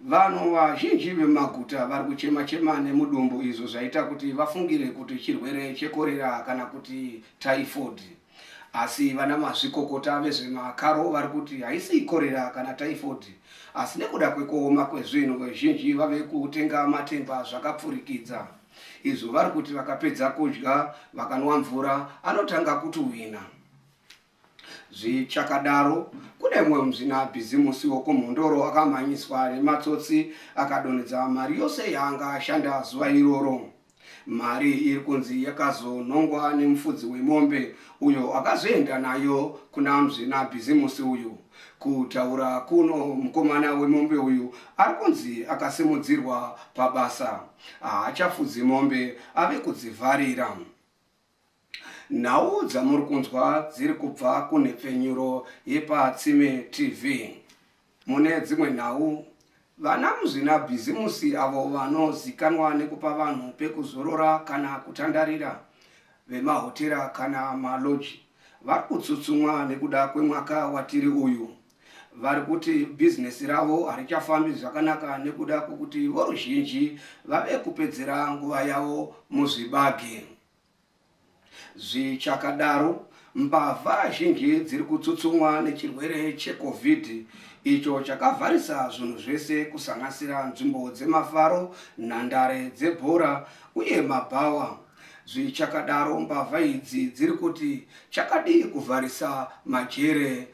Vanhu vazhinji vemaguta vari kuchema-chema nemudumbu izvo zvaita kuti vafungire kuti chirwere chekorera kana kuti typhoid. Asi vana mazvikokota vezvemakaro vari kuti haisi ikorera kana typhoid, asi nekuda kwekuoma kwezvinhu vazhinji vave kutenga matemba zvakapfurikidza. Izvo vari kuti vakapedza kudya, vakanwa mvura, anotanga kutuhwina. Zvichakadaro, kune mumwe muzvina bhizimusi wokuMhondoro akamhanyiswa nematsotsi akadonhedza mari yose yaanga ashanda zuva iroro. Mari iri kunzi yakazonhongwa nemufudzi wemombe uyo akazoenda nayo kuna muzvina bhizimusi uyu. Kutaura kuno, mukomana wemombe uyu ari kunzi akasimudzirwa pabasa. Haachafudzi mombe, ave kudzivharira. Nhau dzamuri kunzwa dziri kubva kunhepfenyuro yepaTsime TV. Mune dzimwe nhau, vana muzvinabhizimusi avo vanozikanwa nekupa vanhu pekuzorora kana kutandarira, vemahotera kana maloji, vari kutsutsumwa nekuda kwemwaka watiri uyu. vari kuti bhizinesi ravo harichafambi zvakanaka nekuda kwokuti voruzhinji vave kupedzera nguva yavo muzvibage. Zvichakadaro, mbavha zhinji dziri kutsutsumwa nechirwere cheCovid icho chakavharisa zvinhu zvese kusanganisira nzvimbo dzemafaro, nhandare dzebhora uye mabhawa. Zvichakadaro, mbavha idzi dziri kuti chakadii kuvharisa majere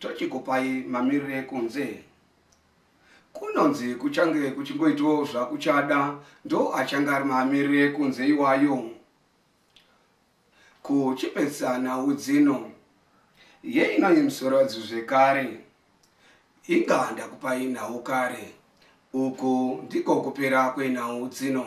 Tochikupai mamirire ekunze. Kunonzi kuchange kuchingoitawo zvakuchada ndo achange ari mamirire ekunze iwayo. Kuchipedzisa nhau dzino yeinoyi musorodzi zvekare. Inga ndakupai nhau kare. Uku ndiko kupera kwenhau dzino.